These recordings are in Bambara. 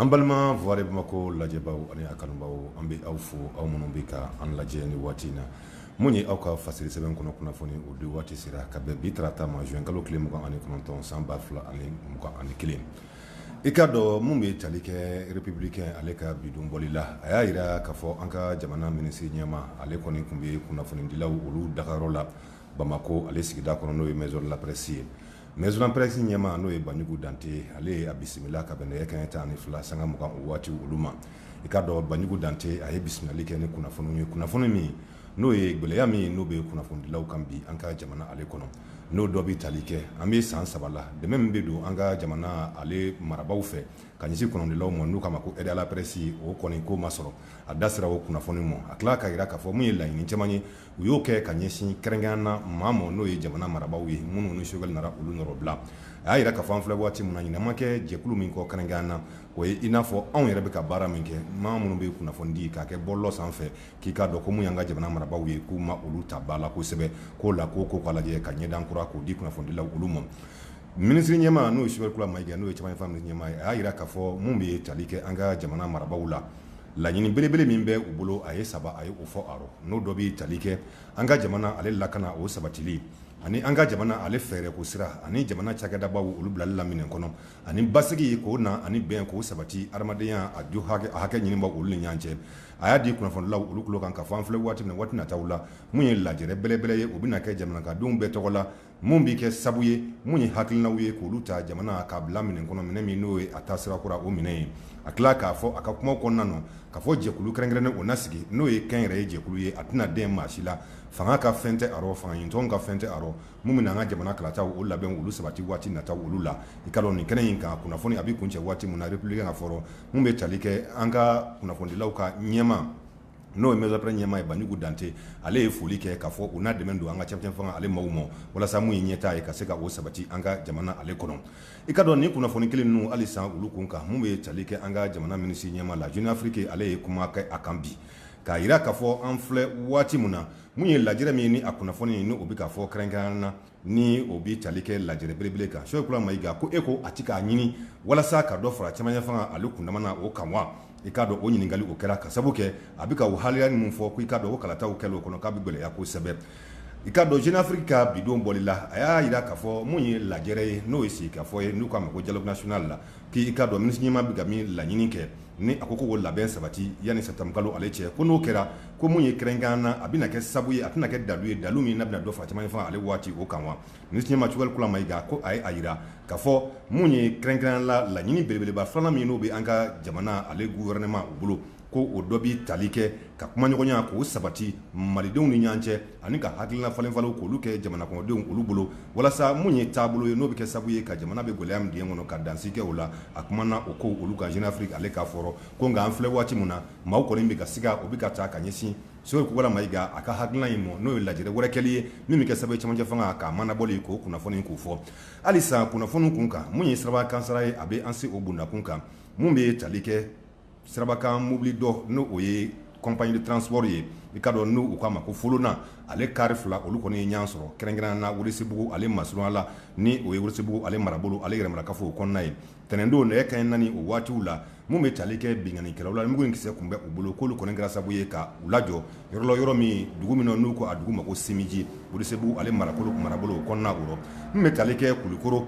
An balima wari Bamakɔ lajɛbaw ani a kanubaw an bɛ aw fo aw minnu bɛ ka an lajɛ ni waati in na minnu ye aw ka fasiri sɛbɛn kɔnɔ kunnafoni o di waati sera ka bɛn bi tarata ma zuwɛnkalo tile mugan ani kɔnɔntɔn san ba fila ani mugan ani kelen i k'a dɔn min bɛ tali kɛ Républicain ale ka bi don bɔli la a y'a jira k'a fɔ an ka jamana minisiri ɲɛmaa ale kɔni tun bɛ kunnafonidilaw olu dagayɔrɔ la bamakɔ ale sigida kɔnɔ n'o ye Maison de la Presse ye Maison de la Presse ɲɛmaa n'o ye banjugu dante ale ye a bisimila ka bɛn nɛgɛ kanɲɛ tan ni fila sanga mugan waati olu ma i k'a dɔn banjugu dante a ye bisimilali kɛ ni kunnafoni ye kunnafoni min n'o ye gɛlɛya min ye n'o bɛ kunnafonidilaw kan bi an ka jamana ale kɔnɔ n'o dɔ bɛ tali kɛ an bɛ san saba la dɛmɛ min bɛ don an ka jamana ale marabagaw fɛ ka ɲɛsin kunnafonidilaw ma n'u k'a ma ko aide à la presse o kɔni ko ma sɔrɔ a da sera o kunnafoni ma a tila k'a jira k'a fɔ min ye laɲini caman ye u y'o kɛ ka ɲɛsin kɛrɛnkɛrɛnnenya la maaw ma n'o ye jamana marabagaw ye minnu ni Choguel nana olu nɔrɔ bila a y'a jira k'a fɔ an filɛ waati min na ɲinɛ ma kɛ jɛkulu min kɔ kɛrɛnkɛrɛnnenya la o ye i n'a fɔ anw yɛrɛ bɛ ka baara min kɛ maa minnu bɛ kunnafonidi ka kɛ bɔlɔlɔ sanfɛ k'i k'a dɔn ko min ye an ka jamana marabagaw ye k'u ma olu ta ba la kosɛbɛ k'o la ko k'a lajɛ ka ɲɛda kura k'o di kunnafonidilaw olu ma minisiri ɲɛmaa n'o ye Choguel Kokalla Maïga n'o ye cɛmancɛ ɲɛmaa ye a y'a jira k'a fɔ min bɛ tali kɛ an ka jamana marabagaw la Laɲini belebele min bɛ u bolo a ye saba a ye o fɔ a rɔ n'o dɔ bɛ tali kɛ an ka jamana ale lakana o sabatili ani an ka jamana ale fɛɛrɛ ko sira ani jamana cakɛdabaw olu bilali la minɛ kɔnɔ ani basigi k'o na ani bɛn k'o sabati adamadenya a jo a hakɛ ɲinibaw olu ni ɲɔgɔn cɛ a y'a da kunnafonidilaw olu tulo kan k'a fɔ an filɛ waati min na waati nataw la min ye lajɛ belebele ye o bɛna kɛ jamana ka denw bɛɛ tɔgɔ la min bɛ kɛ sabu ye minnu ye hakilinaw ye k'olu ta jamana k'a bila minɛ kɔnɔ minɛ min n'o ye a taasira kura o minɛ ye a tila k'a fɔ a ka kuma kɔnɔna na k'a fɔ jɛkulu kɛrɛnkɛrɛnnen o na sigi n'o ye kɛnyɛrɛye jɛkulu ye a tɛna dɛn maa si la fanga ka fɛn tɛ a rɔ fangaɲinitɔnw ka fɛn tɛ a rɔ min bɛna an ka jamana kalataw o labɛnw olu sabati waati nataw olu la i k'a dɔn nin kɛnɛ in kan kunnafoni a bɛ kuncɛ waati min na Républicain ka fɔ rɔ min bɛ tali kɛ an ka kunnafonidilaw ka ɲɛmaa n'o ye Maison de la Presse ɲɛmaa ye Banjugu Dante, ale ye foli kɛ k'a fɔ u na dɛmɛ don an ka cɛmancɛ fanga ale maaw ma walasa mun ye ɲɛtaa ye ka se ka o sabati an ka jamana ale kɔnɔ. I k'a dɔn nin kunnafoni kelen ninnu halisa olu kun kan mun bɛ tali kɛ an ka jamana minisiri ɲɛmaa la Jeune Afrique ale ye kuma kɛ a kan bi k'a jira k'a fɔ an filɛ waati mun na mun ye lajɛrɛ min ye ni a kunnafoni ni o bɛ ka fɔ kɛrɛnkɛrɛnnenya la ni o bɛ tali kɛ lajɛ belebele kan Choguel Maïga ko e ko a tɛ k'a ɲini walasa ka dɔ fara cɛmancɛ fanga ale kundama o kan wa i k'a dɔn o ɲininkali o kɛra k'a sababu kɛ a bɛ ka waleya ninnu fɔ ko i k'a dɔn o kalataw kɛ o kɔnɔ k'a bɛ gɛlɛya kosɛbɛ i k'a dɔn Jeune Afrique ka bi don bɔli la a y'a jira k'a fɔ min ye lajɛ ye n'o ye sigikafɔ ye n'u k'a ma ko dialogue national la K'i k'a dɔn minisiriɲɛmaa bɛ ka min laɲini kɛ ni a ko ko labɛn sabati yanni sɛtanburukalo ale cɛ ko n'o kɛra ko mun ye kɛrɛnkɛrɛnnya na a bɛna kɛ sabu ye a tɛna kɛ dalu ye dalu min n'a bɛna dɔ fara camancɛ fanga ale waati o kan wa minisiriɲɛmaa sogɛli kokala mayiga ko a ye a jira k'a fɔ min ye kɛrɛnkɛrɛnnya la laɲini belebeleba filanan min n'o bɛ an ka jamana ale guwɛrɛnɛman o bolo ko o dɔ bɛ tali kɛ ka kumaɲɔgɔnya k'o sabati malidenw ni ɲɔgɔn cɛ ani ka hakilina falenfalen k'olu kɛ jamanakɔnɔdenw olu bolo walasa minnu ye taabolo ye n'o bɛ kɛ sababu ye ka jamana bɛ gɛlɛya min kɔnɔ ka dan sigi o la a kumana o kow olu kan jeune afrique ale ka fɔ rɔ ko nka an filɛ waati min na maaw kɔni bɛ ka siga o bɛ ka taa ka ɲɛsin sogɛli mayiga a ka hakilina in ma n'o ye lajɛrɛ wɛrɛ kɛli ye min bɛ kɛ sababu camancɛ fanga ka manabɔli ko kunnafoni k'u fɔ halisa kunnafoni kun kan mun ye siraba kasaara ye a bɛ an se o bondakun kan min bɛ tali kɛ sirabakan mobili dɔ ni o ye compagnie de transport ye i k'a dɔn n'u k'a ma ko folona ale kari fila olu kɔni ye ɲɔgɔn sɔrɔ kɛrɛnkɛrɛn na welesebugu ale masurunya la ni o ye welesebugu ale marabolo ale yɛrɛmarakafo o kɔnɔna ye tɛnɛndon nɛgɛ kanɲɛ naani o waatiw la min bɛ tali kɛ binkannikɛlaw la mugu ni kisɛ tun bɛ u bolo k'olu kɔni kɛra sababu ye ka u lajɔ yɔrɔ la yɔrɔ min dugu min n'u ko a dugu ma ko simiji welesebugu ale marabolo o kɔnɔna o rɔ min bɛ tali kɛ kulukɔrɔ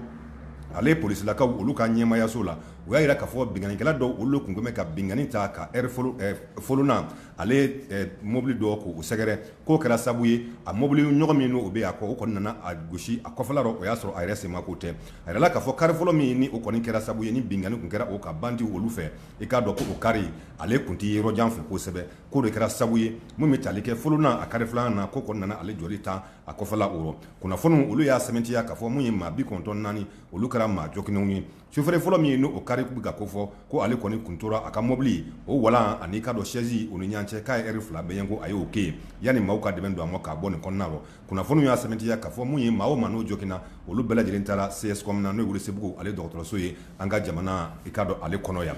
ale polisilakaw olu ka ɲɛmaayaso la u y'a jira k'a fɔ binkannikɛla dɔ olu tun bɛ ka binkanni ta kari folona ale mobili dɔ k'o sɛgɛrɛ k'o kɛra sababu ye a mobili ɲɔgɔn min n'o bɛ a kɔ o kɔni nana a gosi a kɔfɛla la o y'a sɔrɔ a yɛrɛ senma ko tɛ a jirala k'a fɔ kari fɔlɔ min ni o kɔni kɛra sababu ye ni binkanni tun kɛra o kan bandiw olu fɛ i k'a dɔn ko o kari ale tun tɛ yɔrɔ jan fɛ kosɛbɛ k'o de kɛra sababu ye min bɛ tali kɛ folona a kari filanan na k'o kɔni nana ale jɔlen tan a kɔfɛla o rɔ kunnafoniw olu y'a sɛmɛntiya k'a fɔ min ye maa bi kɔnɔntɔn naani olu kɛra maa joginnenw ye Sofɛrɛ fɔlɔ min n'o kari tun bɛ ka ko fɔ ko ale kɔni tun tora a ka mobili o wolan ani i k'a dɔn sɛsi u ni ɲɔgɔn cɛ ka lɛrɛ fila bɛɲɛ ko a y'o kɛ yanni maaw ka dɛmɛ don a ma k'a bɔ nin kɔnɔna na kunnafoni y'a sɛmɛntiya k'a fɔ min ye maa minnu joginna olu bɛɛ lajɛlen taara seyasi kɔnɔna na n'o ye welesebugu ale dɔgɔtɔrɔso ye an ka jamana i k'a dɔn ale kɔnɔ yan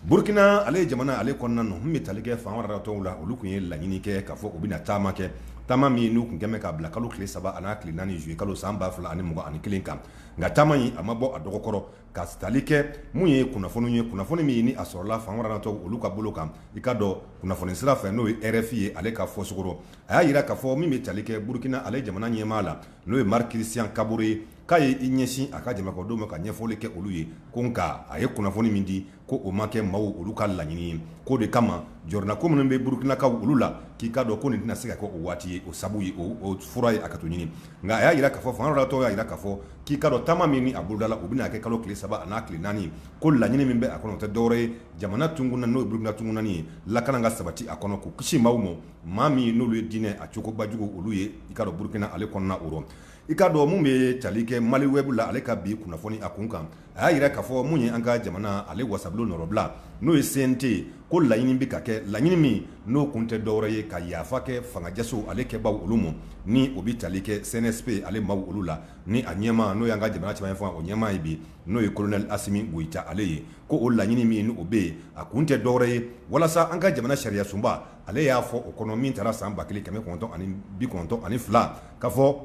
burukina ale ye jamana ale kɔnɔna na min bɛ tali kɛ fan wɛrɛ tɔw la olu tun ye laɲini kɛ k'a fɔ u bɛna na taama kɛ taama min n'u tun bɛ k'a bila kalo tile saba ani n'a tile naani ni zuluyekalo san ba fila ani mugan ni kelen kan nka taama in a ma bɔ a dɔgɔ kɔrɔ ka tali kɛ mun ye kunnafoni ye kunnafoni min ye ni a sɔrɔla fanatɔ olu ka bolo kan i k'a dɔn kunnafoni sira fɛ n'o ye rfi ye ale ka fɔcogo rɔ a y'a jira k'a fɔ min bɛ tali kɛ burukina ale jamana ɲɛmaa la n'o ye mariki kirisiyan kabore ye k'a ye i ɲɛsin a ka jamanakɔnɔdenw ma ka ɲɛfɔli kɛ olu ye ko nka a ye kunnafoni min di ko o ma kɛ maaw olu ka laɲini ye k'o de kama jɔrɔnanko minnu bɛ burukinakaw olu la k'i k'a dɔn ko nin tɛna se ka kɛ o waati ye o sabu ye o fura ye hakɛto ɲini nka a y'a jira k'a fɔ fangatɔ y'a jira k'a fɔ k'i k'a dɔn taama min a bolodala u bɛna a kɛ kalo tile saba n'a tile naani ko laɲini min bɛ a kɔnɔ tɛ dɔwɛrɛ ye jamana tun na n'o ye burukina tununnen ye lakana ka sabati a kɔnɔ k'o kisi maaw ma maa min n'olu ye diinɛ a cogobajugu olu ye i k'a dɔn burukina ale kɔnɔna o rɔ i k'a dɔn min bɛ tali kɛ maliwɛbu la ale ka bi kunnafoni a kun kan a y'a jira k'a fɔ mun ye an ka jamana ale wasabulon nɔrɔbila n'o ye CNT ye ko laɲini bɛ ka kɛ laɲini min n'o kun tɛ dɔwɛrɛ ye ka yafa kɛ fangajaso ale kɛbaaw olu ma ni o bɛ tali kɛ CNSP ale maa olu la ni a ɲɛmaa n'o y'an ka jamana cɛma fanga o ɲɛmaa ye bi n'o ye kolonɛl asimi goyita ale ye ko o laɲini min o bɛ yen a kun tɛ dɔwɛrɛ ye walasa an ka jamana sariya sunba ale y'a fɔ o kɔnɔ min tara san ba kelen kɛmɛ kɔnɔntɔn ani bi kɔnɔntɔn ani fila k'a fɔ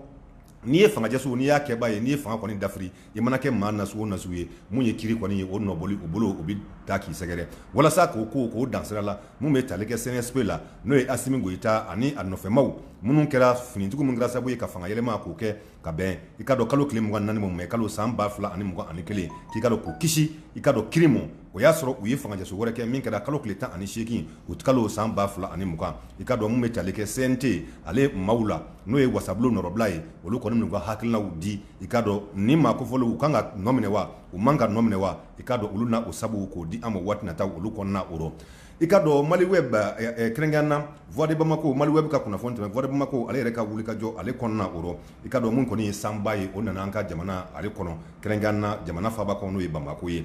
n'i ye fangajaso n'i y'a kɛbaa ye n'i ye fanga kɔni dafiri i mana kɛ maa nas nas ye mun ye kiri kɔni ye o nɔbɔli u bolo u bɛ taa k'i sɛgɛrɛ walasa k'o ko k'o dansira la minnu bɛ tali kɛ CNSP la n'o ye asimi goyita ani a nɔfɛmaw minnu kɛra finitigiw min kɛra sababu ye ka fangayɛlɛma k'o kɛ ka bɛn i k'a dɔn kalo tile mugan naani ma mɛ kalo san ba fila ani mugan ani kelen k'i k'a dɔn k'u kisi i k'a dɔn kiri ma o y'a sɔrɔ u ye fangajaso wɛrɛ kɛ min kɛra kalo tile tan ani seegin uti kalo san ba fila ani mugan i k'a dɔn min bɛ tali kɛ CNT ale maaw la n'o ye wasabulon nɔrɔbila ye olu kɔni m'u ka hakilinaw di i k'a dɔn ni maa kofɔlen u kan ka nɔminɛ wa u man kan ka nɔminɛ wa i k'a dɔn olu na o sabu k'o di an ma waati nataw olu kɔnɔna o rɔ i k'a dɔn maliweb kɛrɛnkɛrɛnnenya na voix de bamakɔ maliweb ka kunnafoni tun bɛ voix de bamakɔ ale yɛrɛ ka wulikajɔ ale kɔnɔna o rɔ i k'a dɔn mun kɔni ye sanba ye o nana an ka jamana ale kɔnɔ kɛrɛnkɛrɛnnenya na jamana faba kɔnɔ n'o ye bamakɔ ye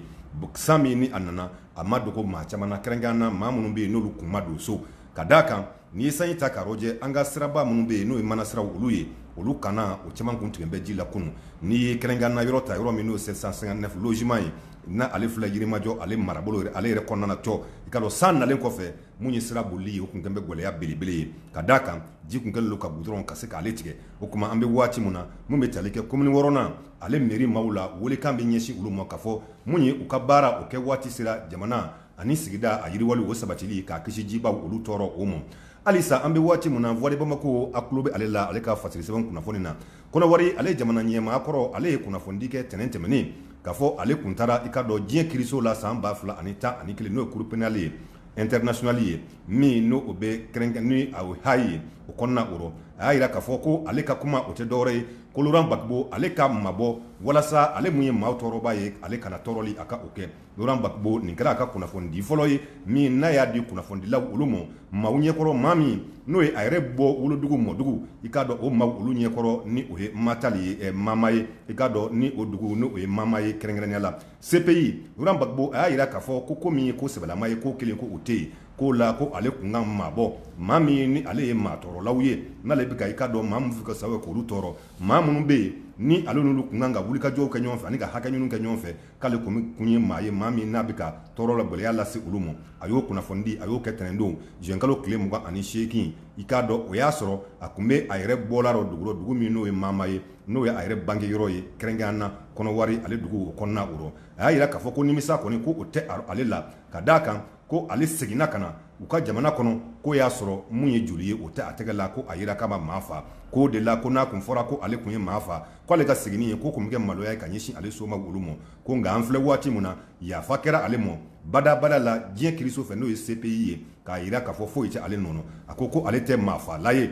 san min ni a nana a ma dogo maa caman kɛrɛnkɛrɛnnenya na maa minnu bɛ yen n'olu kun ma don so ka d'a kan N'i ye sanji ta k'a lajɛ an ka siraba minnu bɛ yen n'o ye manasiraw olu ye olu kan na o caman tun tigɛ bɛ ji la kunun n'i ye kɛrɛnkɛrɛnnenya la yɔrɔ ta yɔrɔ min n'o ye 759 logement ye n'ale filɛ Yirimajɔ ale marabolo ale yɛrɛ kɔnɔna na cɔ i k'a dɔn san nalen kɔfɛ mun ye sira bolili ye o tun kɛlen bɛ gɛlɛya belebele ye ka d'a kan ji tun kɛlen don ka goudron ka se k'ale tigɛ o tuma an bɛ waati min na minnu bɛ tali kɛ commune wɔɔrɔnan ale mairie maaw la welekan bɛ ɲɛsin olu ma k'a fɔ mun ye u ka baara o kɛ waati sera jamana ani sigida a yiriwali o sabatili k'a kisi jiba olu tɔɔrɔ o ma halisa an bɛ waati min na voix de bamakɔ a tulo bɛ ale la ale ka fasiri sɛbɛn kunnafoni na kɔnɔwari ale jamana ɲɛmaa kɔrɔ ale ye kunnafonidi kɛ tɛnɛn tɛmɛnen k'a fɔ ale tun taara i k'a dɔn diɲɛ kiriso la san ba fila ani tan ani kelen n'o ye cour pénale ye internationale ye min n'o bɛ kɛrɛnkɛrɛnnenya la haye o kɔnɔna o rɔ a y'a jira k'a fɔ ko ale ka kuma o tɛ dɔwɛrɛ ye ko laurent gbagbo ale ka mabɔ walasa ale min ye maa tɔɔrɔba ye ale kana tɔɔrɔli a ka o kɛ Laurent Gbagbo nin kɛra a ka kunnafoni di fɔlɔ ye min n'a y'a di kunnafonidilaw olu ma, maaw ɲɛkɔrɔ maa min n'o ye a yɛrɛ bɔ wolodugu mɔdugu, i k'a dɔn o maaw olu ɲɛkɔrɔ ni o ye Matal ye, ɛ Mama ye, i k'a dɔn ni o dugu ni o ye Mama ye kɛrɛnkɛrɛnnenya la. CPI, Laurent Gbagbo a y'a jira k'a fɔ ko ko min ye ko sɛbɛlama ye, k'o kelen ko o tɛ yen, k'o la ko ale tun ka mabɔ maa min ni ale ye maa tɔɔrɔlaw ye, n'ale bɛ ka i k'a dɔn maa minnu bɛ ka sababu kɛ k'olu tɔɔrɔ, maa minnu bɛ yen ni ale n'olu tun kan ka wulikajɔw kɛ ɲɔgɔn fɛ ani ka hakɛɲiniw kɛ ɲɔgɔn fɛ, k'ale kun kun ye maa ye maa min n'a bɛ ka tɔɔrɔ la gɛlɛya lase olu ma a y'o kunnafoni di a y'o kɛ tɛnɛndon zuwɛnkalo tile mugan ani seegin i k'a dɔn o y'a sɔrɔ a tun bɛ a yɛrɛ bɔla o dugu rɔ dugu min n'o ye Mama ye n'o ye a yɛrɛ bange yɔrɔ ye kɛrɛnkɛrɛnya na Kɔnɔwari ale dugu o kɔnɔna o rɔ a y'a jira k'a fɔ ko nimisa kɔni ko o tɛ ale la ka d'a kan ko ale seginna ka na u ka jamana kɔnɔ k'o y'a sɔrɔ mun ye joli ye o tɛ a tɛgɛ la ko a jira k'a ma maa faa k'o de la ko n'a tun fɔra ko ale tun ye maa faa k'ale ka seginni yen k'o tun bɛ kɛ maloya ye ka ɲɛsin ale somaa olu ma ko nka an filɛ waati min na yafa kɛra ale ma badabada la diɲɛ kiriso fɛ n'o ye CPI ye k'a jira k'a fɔ foyi tɛ ale nɔ na a ko ko ale tɛ maafala ye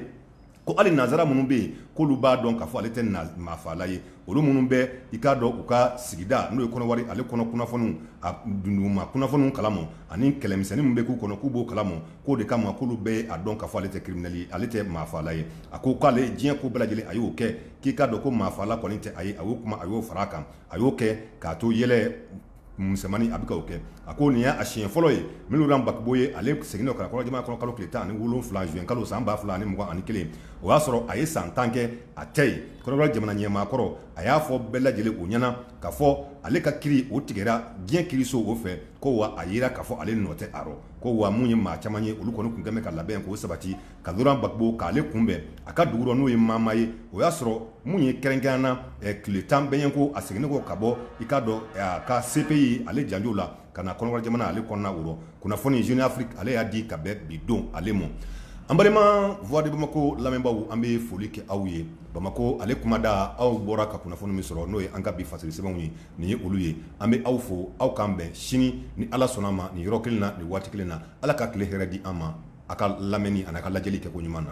Ko hali nansara minnu bɛ yen k'olu b'a dɔn k'a fɔ ale tɛ maafala ye olu minnu bɛ i k'a dɔn u ka sigida n'o ye Kɔnɔwari ale kɔnɔ kunnafoniw a dunduguma kunnafoniw kala ma ani kɛlɛmisɛnnin min bɛ k'u kɔnɔ k'u b'o kala ma k'o de kama k'olu bɛ a dɔn k'a fɔ ale tɛ kiriminɛli ye ale tɛ maafala ye a ko k'ale diɲɛ ko bɛɛ lajɛlen a y'o kɛ k'i k'a dɔn ko maafala kɔni tɛ a ye a y'o kuma a y'o fara a kan a y'o kɛ k'a to yɛlɛ misɛnmannin a bɛ k'o kɛ a ko nin y'a siɲɛ fɔlɔ ye min Laurent Gbagbo ye ale seginna ka na u ka jamana kɔnɔ kalo tile tan ni wolonwula zuwɛnkalo san ba fila ani mugan ani kelen o y'a sɔrɔ a ye san tan kɛ a tɛ yen Kɔnɔwari jamana ɲɛmaakɔrɔ a y'a fɔ bɛɛ lajɛlen u ɲɛna k'a fɔ ale ka kiri o tigɛra diɲɛ kiriso o fɛ ko wa a jira k'a fɔ ale nɔ tɛ a rɔ ko wa minnu ye maa caman ye olu kɔni tun kɛlen ka labɛn k'o sabati ka Laurent Gbagbo k'ale kunbɛn a ka dugu rɔ n'o ye Mama ye o y'a sɔrɔ mun ye kɛrɛnkɛrɛnya na tile tan bɛ yen ko a seginnen kɔ ka bɔ i k'a dɔn a ka CPI ale janjo la ka na Kɔnɔwari jamana ale kɔnɔna o rɔ kunnafoni Jeune Afrique ale y'a di ka bɛn bi don ale ma an balima Voix de Bamako lamɛnbaw an bɛ foli kɛ aw ye bamakɔ ale kuma da aw bɔra ka kunnafoni min sɔrɔ n'o ye an ka bi fasiri sɛbɛnw ye nin ye olu ye an bɛ aw fo aw k'an bɛn sini ni ala sɔnna a ma nin yɔrɔ kelen na nin waati kelen na ala ka tile hɛrɛ di an ma a ka lamɛnni ani a ka lajɛli kɛ ko ɲuman na